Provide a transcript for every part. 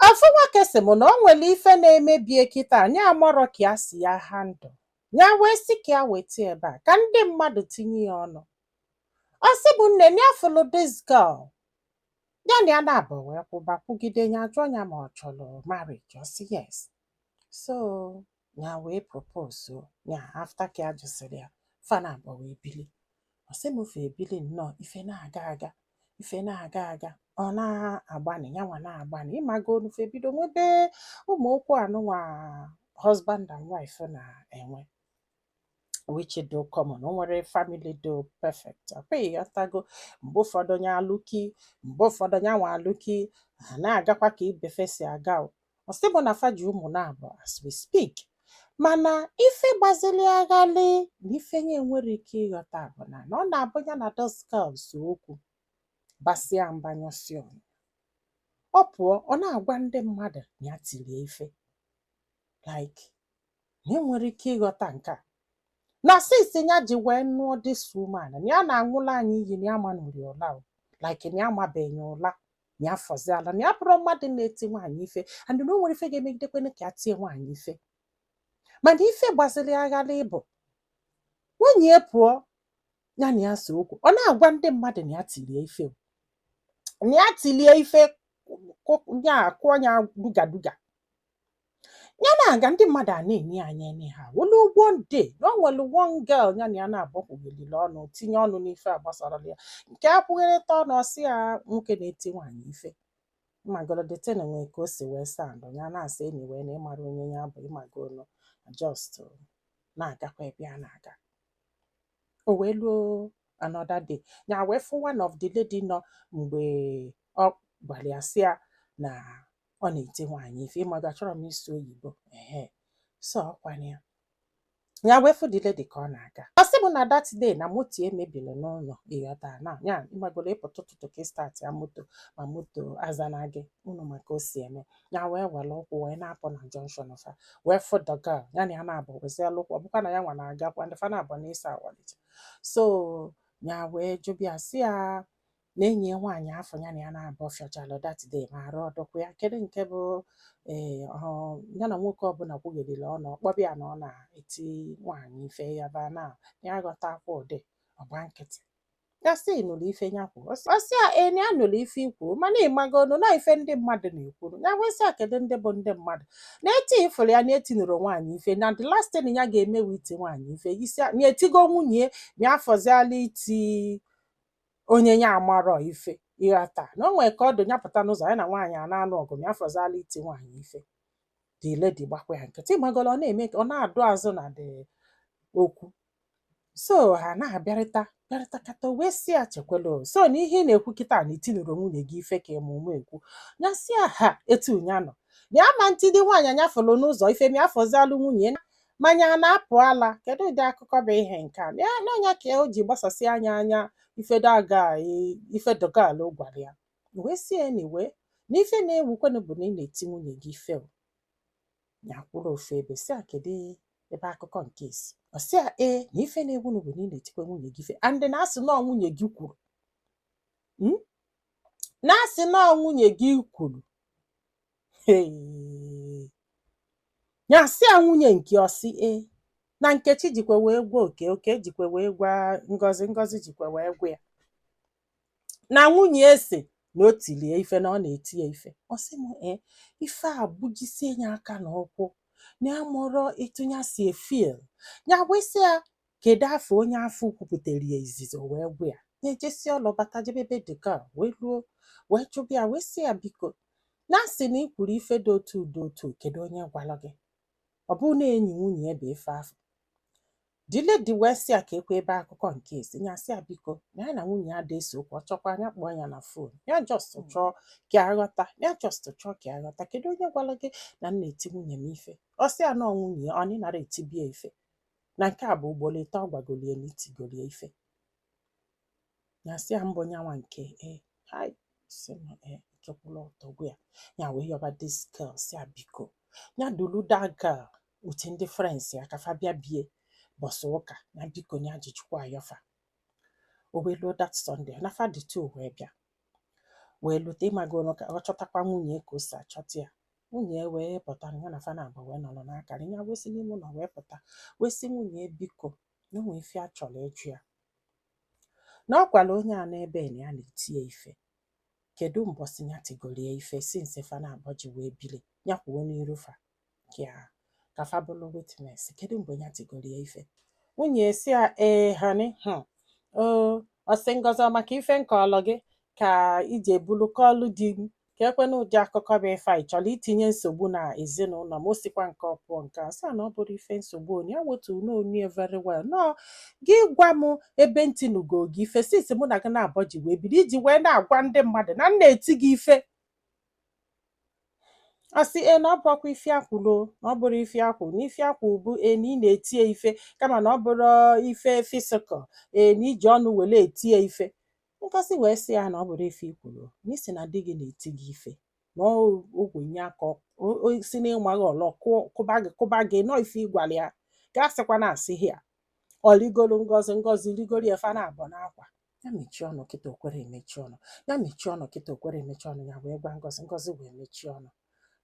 Ofu nwoke sị m na o nwere ife na-eme be ya kịta na ya amarọ ka ya si ya handle ya wee sị ka ya weta ebe a ka ndị mmadụ tinye ya ọnụ ọ sị mụ nne na ya fụlụ this girl ya na ya naabọ wee kwụba kwụgide ya jụọ ya ma ọ chọrọ marriage ọ sị yes so ya wee propose o ya after ka ya jụsịrị ya fa na abụọ wee bili ọ sị m fa ebili nnọọ ife na-aga aga ife na-aga aga ọ na-agbanị ya nwa na-agbanị ịmagonu fa ebido nwebe ụmụ okwu anụnwa husband and wife na-enwe which dụ common o nwerọ family dụ perfect ọkwa ịghọtago mgbe ụfọdụ onye alụki mgbe ụfọdụ onye anwa alụki ha na-agakwa ka ibe fa si aga o. ọ sị mụ na fa ji ụmụ naabọ as we speak mana ife gbazili ya ghalị na ife ya enwerọ ike ịghọta bụ na na ọ na-abụ ya na this girl see okwu basịa mba nyụsị ọnụ ọ pụọ ọ na-agwa ndị mmadụ na ya tirie ife like na ya enwerọ ike ịghọta nke a na since ya ji wee nụọ this woman na ya na-aṅụlụ anyị iyi na ya amanụrọ ya ụla o like na ya amabeghị ụla na ya fọziala na ya abụrọ mmadụ na-eti nwaanyị ife and na o nwerọ ife ga-emegidekwene ka ya tie nwaanyị ife mana ife gbaziri ya ghalị bụ nwunye ya pụọ ya na ya see okwu ọ na-agwa ndị mmadụ na ya tilie ife o. na ya tilie ife kụ- ya kụọ ya dugaduga ya na-aga ndị mmadụ a na-ene ya anya ene ha o luo one day na o nwere one girl ya na ya naabọ kwughelili ọnụ tinye ọnụ n'ife agbasarọ ya nke a kwugherita ọnụ ọ sị ya nwoke na-eti nwaanyị ife ịmagolo the thing nwee ka o si wee sound ya na-asị anyway na ịmarọ onye ya bụ ịmagonu just na-agakwa ebe ya na-aga o wee luo another day ya wee fụ one of the lady nọ mgbe ọ gwara ya sị ya na ọ na-eti nwaanyị ife ịmago achọrọ m ịsụ oyibo ehe so ọkwanụ ya ya wee fụ the lady ka ọ na-aga ọ sị m na that day na moto ya mebiri n'ụlọ ịghọta na ya ịmagoro ịpụta ụtụtụ ka ị startịa moto ma moto azana gị unu ma ka o si eme ya wee were ụkwụ wee na-apụ na junction fa wee fụ the girl ya na ya naabọ weziela ụkwụ ọ bụkwa na ya nwa na-agakwa ndị fa naabọ na ịsa awalite so ya wee jụba ya sị ya na enyi ya nwaanyị afụ ya na ya naabọ fịọchalụ that day ma arụ ọ dụkwa ya kedu nke bụ ee ọ ya na nwoke ọbụla kwugherila ọnụ ọ kpọba ya na ọ na-eti nwaanyị ife ya ba na ya aghọta akwa ụdị ọgba nkịtị ya sị nụrụ ife ya kwuru ọ sị ya ee na ya nụrụ ife i kwuru mana ịmagonu na ife ndị mmadụ na-ekwuru ya wee sị ya kedu ndị bụ ndị mmadụ na eti ifụrụ ya na etinurọ nwaanyị ife na the last thing ya ga-emewe iti nwaanyị ife isi ya- na etigo nwunye ya afọziala iti onye ya amarọ ife ị ghọta na o nwere ka ọ dị ya pụta n'ụzọ ya na nwaanyị a na-anụ ọgụ ma afọzala iti nwaanyị ife the lady gbakwa ya nkịtị ị magolo ọ na-eme ka ọ na-adụ azụ na the okwu so ha na-abịarịta bịarịtakata wee sị ya chekwala o. so na ihe ị na-ekwu kịta na i tinụrọ nwunye gị ife ka ịmụ ụmụ ekwu ya sị ya ha etu ya nọ ya ama etidi nwaanyị nya fụlụ n'ụzọ ife ma afọzalụ nwunye ya ma nya a na-apụ ala kedu ụdị akụkọ bụ ihe nke a ya n'ọnya ka o ji gbasasị anya anya ife the girl ife the girl gwara ya wee sị ya anyway na ife na-ewukwenụ bụ na ị na-eti nwunye gị ife o. ya kwụrụ ofu ebe sị ya kedu ebe akụkọ nke a si ọ sị ya ee na ife na-ewunụ bụ na ị na-etikwa nwunye gị ife and na a sị na ọ nwunye gị kwuru Mm? na a sị na ọ nwunye gị kwuru nya sị ya nwunye nke ọ sị ee na nkechi jikwa wee gwa oke oke jikwa wee gwa ngozi ngozi jikwa wee gwa ya na nwunye ya sị na o tili ya ife na ọ na-eti ya ife ọ sị m ee ife a gbujisie ya aka na ụkwụ na ya amarọ etu nya si efeel ya wee sị ya kedu afa onye afụ kwupụtara ya izizi o wee gwa ya ya ejesịa ọlụ bata jebe be the girl wee luo wee chọba ya wee sị ya biko na a sị na ị kwuru ife dị otu dị otu kedu onye gwara gị ọ bụrụ na enyi nwunye ya bụ ife afụ the lady wee sị ya keekwa ebe akụkọ nke a si ya sị ya biko na ya na nwunye ya adị ese okwu ọ chọkwa nya kpọọ ya na fon ya just chọọ ka ya ghọta ya just chọọ ka ya ghọta kedu onye gwara gị na m na-eti nwunye m ife ọ sị ya na ọ nwunye ya ọ na ị nara etibi ya ife na nke a bụ ugboro ịtọ ọ gwagoli ya na i tigoli ya ife ya sị ya mbụ nyanwa nke e hai sị na ike kwụrụ ọtọ gwụ ya ya wee yọba this girl sị ya biko ya dulu that girl with ndị friends ya ka fa bịa be ya mbọsị ụka na biko ya ji chukwu ayọ fa o wee luo that Sunday na fa dị two wee bịa wee lute ị magoro ka ọ chọtakwa nwunye ka o si achọta ya nwunye ya wee pụta ya na fa naabọ wee nọrọ na-akọrị ya wee si n'ime ụlọ wee pụta wee sị nwunye ya biko na o nwee ife ya chọrọ ịjụ ya na ọ gwara onye a nọ ebe a na ya na-eti ya ife kedu mbọsị ya tigoro ya ife since fa naabọ ji wee bili ya kwuo n'iru fa ya ka fa bụrụ witness kedu mgbe ya tigoro ya ife nwunye ya sị ya ee honey hmm, o ọ sị ngọzi ọ maka ife m kọlụ gị ka i ji ebulu kọlụ di m keekwanụ ụdị akụkọ bụ ife a ị chọrọ itinye nsogbu na ezinụlọ m o sikwa nke ọ pụọ nke a sị na ọ bụrọ ife nsogbu onye ya wetu n'onye very well na ọ gị gwa m ebe m tinugo gị ife since mụ na gị naabọ ji wee biri i ji wee na-agwa ndị mmadụ na m na-eti gị ife asị e na ọ bụrọkwa ife ya kwulu na ọ bụrọ ife ya kwu na ife ya kwu bụ e na ị na-eti ya ife kama na ọ bụrọ ife physical e na i ji ọnụ were eti ya ife ngozi wee sị ya na ọ bụrọ ife i kwulu na ị sị na di gị na-eti gị ife na ọ- ogwe nye aka ọ- o- o- si na ịmaghị ọlọ kụọ- kụba gị kụba gị nọ ife ị gwalụ ya gasịkwa na asị ya ọ rigoro ngozi ngozi rigoro ya fa naabọ n'akwa ya mechie ọnụ kịta okwere emechi ọnụ ya mechie ọnụ kịta okwere emechi ọnụ ya wee gwa ngozi ngozi wee mechie ọnụ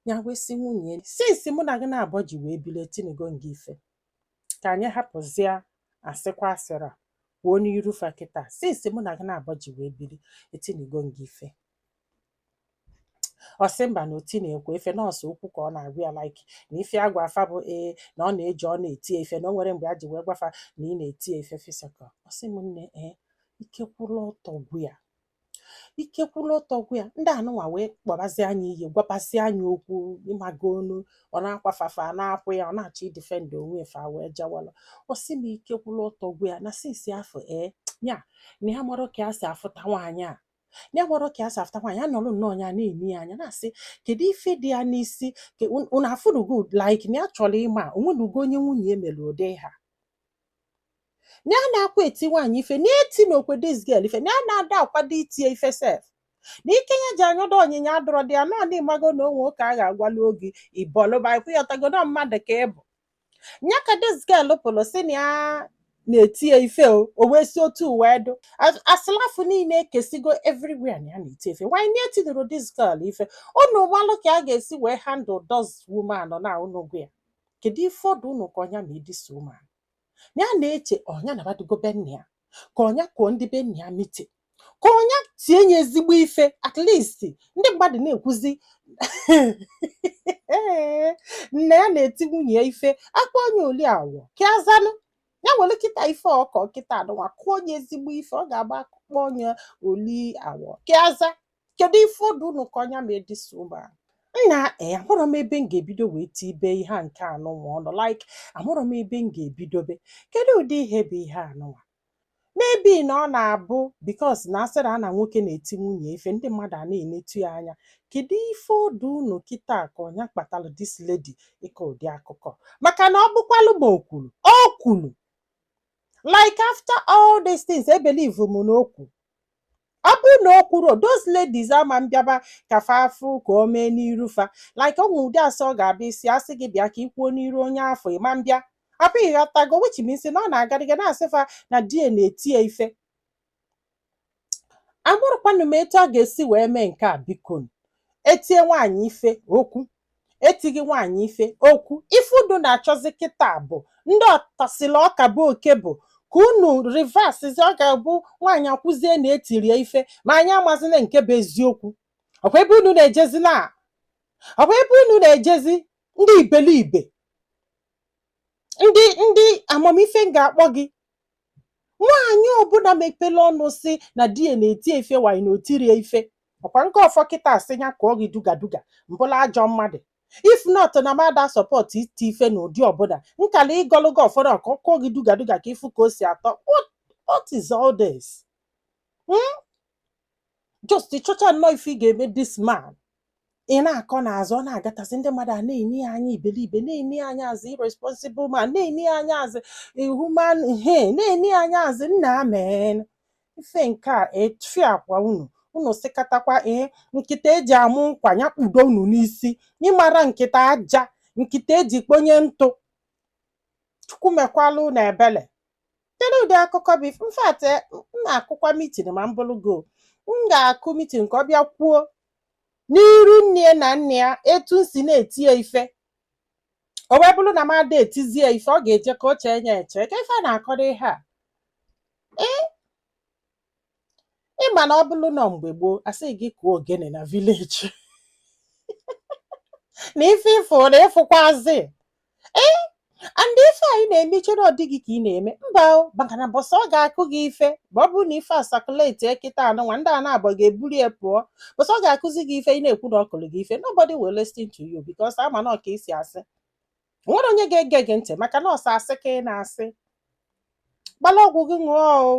ya wee sị nwunye since mụ na gị naabọ ji wee bili etinigo m gị ife ka anyị hapụzie asịkwa asịrị a kwuo n'iru fa kịta since mụ na gị naabọ ji wee bili etinigo m gị ife ọ sị mba na o tinọkwa ya ife na ọ sọ okwu ka ọ na-agwa ya like na ife ya gwa fa bụ ee na ọ na-eji ọ na-eti ya ife na o nwerọ mgbe ya ji wee gwa fa na ị na-eti ya ife physical ọ sị m nne ee ike kwụrụ ọtọ gwụ ya ike kwụrụ ọtọ gwụ ya ndị anụnwa wee kpọbazie nya iyi gwabazie nya okwu ịmago onu ọ na-akwafafa a na-akwụ ya ọ na-achọ idefend onwe ya fa wee jawala ọ sị m ike kwụrụ ọtọ gwụ ya na since afọ ee ya na ya amarọ ka ya si afụta nwaanyị a ya amarọ ka ya si afụta nwaanyị a nọrọ nnọọ ya na-eni ya anya na-asị kedu ife dị ya n'isi ka un- unu afụrụgo like na ya chọrọ ịma o nwenugo onye nwunye ya mere ụdị a na ya adakwa eti nwaanyị ife na ya etinọkwa this girl ife na ya ada akwado iti ya ife sef na ike ya ji anyọdo ọnyịnya adịrọdị ya nọ na ịmago na o nwe ụka a ga-agwalị gị ịbọlụba ịkwụghọtago na mmadụ ka ị bụ nya ka this girl pụrụ sị na ya na-eti ya ife o o wee si otu wee dụ As- asịlị afụ niile ekesigo everywhere na ya na-eti ife nwaanyị na etinurọ this girl ife unu malụ ka a ga-esi wee handle this woman na unu gwa ya kedu ife ọ dụ unu ka ọ nya mee this woman ya na-eche ọ nya na badugo be nna ya ka ọ nya kụọ ndị be nna ya meeting ka ọ nya tie nye ezigbo ife at least ndị mmadụ na-ekwuzi ee na ya na-eti nwunye ya ife a kpọọ nya oli awọ ka ya zanụ ya nwere kịta ife ọkọ kịta anụnwa kụọ nya ezigbo ife ọ ga-abụ a kpọọ nya oli awọ ka ya za kedu ife ọ dụ unu ka ọ nya mee this woman nna ee amarọ m ebe m ga-ebido wee tibe ihe a nke anụnwa ọnụ like amarọ m ebe m ga-ebidobe kedu ụdị ihe bụ ihe anụnwa maybe na ọ na-abụ because na asịrị a na nwoke na-eti nwunye ife ndị mmadụ a na-enetu ya anya kedu ife ọ dụ unu kịta ka ọ nya kpatara this lady ịkọ ụdị akụkọ maka na ọ bụkwalụ ma o kwuru o kwuru like after all these things ebelieve m na o kwuru ọ bụrụ na o kwuru those ladies ama mbịaba ka fa afụ ka o mee n'iru fa like o nwe ụdị asị ọ ga-abịa isi asị gị bịa ka i kwuo n'iru onye afụ ị ma mbịa I hope ị ghọtago which means na ọ na-agadịga na-asị fa na di ya na-eti ya ife amarọkwanụ m etu a ga-esi wee mee nke a biko etie nwaanyị ife okwu etighị nwaanyị ife okwu ife unu na-achọzi kịta bụ ndị ọtasịla ọka bo oke bụ ka unu reversezi ọ ga-abụ nwaanyị ekwuzie na e tiri ya ife ma anyị amazina nke bụ eziokwu ọkwa ebe unu na-ejezi na ọkwa ebe unu na-ejezi ndị iberibe ndị ndị amamife m ga-akpọ gị nwaanyị ọbụla mepere ọnụ sị na di ya na-eti ya ife nwaanyị na o tiri ya ife ọkwa nke ọ fọ kịta asị ya kụọ gị duga duga m bụlụ ajọ mmadụ if not na m ada support iti ife na ụdị ọbụla m kala ịgọlụ gị ọfọ na ka ọ kụọ gị duga duga ka ị fụ ka o si atọ what, what is all this? Hmm? just ị chọcha nnọọ ife ị ga-eme this man ị na-akọ n'azụ ọ na-agatasị ndị mmadụ a na-ene ya anya iberibe na-ene ya anya as irresponsible man na-ene ya anya as inhuman he na-ene ya anya as nna amen ife nke a efiakwa unu unu sịkatakwa ee nkịta eji amụ nkwa ya kpudo unu n'isi ị mara nkịta aja nkịta eji kponye ntụ chukwu mekwala unu ebele kedu ụdị akụkọ bụ ife in fact m na-akụkwa meeting ma m bụrụ go m ga-akụ meeting ka ọ bịa kwuo n'iru nne ya na nna ya etu m si na-eti ya ife o wee bụrụ na m ada etizi ya ife ọ ga-eje ka o chee ya eche kee ife a na-akọdụ ihe a ee ị ma na ọ bụrụ na mgbe gboo asị gị kụọ ogene na village na ife ị fụ na ị fụkwazi ee and ife a ị na-eme i che na ọ di gị ka ị na-eme mba o maka na mbọsị ọ ga-akụ gị ife ma ọ bụrụ na ife a circulate kịta a nụnwa ndị a naabọ ga-eburu ya pụọ mbọsị ọ ga-akụzi gị ife ị na-ekwu na ọ kụrụ gị ife nobody will listen to you because ama na ọka isi asị nwerọ onye ga-ege gị ntị maka na ọ sọ asị ka ị na-asị gbala ọgwụ gị ṅụọ o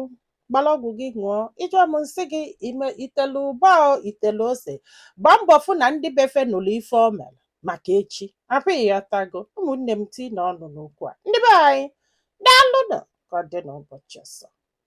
gbala ọgwụ gị ṅụọ ị jụọ m nsị gị i telu ụba o i telu ose gbaa mbọ fụ na ndị be fa nụlụ ife o mere maka echi I hope ị ghọtago ụmụnne m tiinụ ọnụ n'okwu a ndị be anyị daalụnụ ka ọ dị n'ụbọchị ọzọ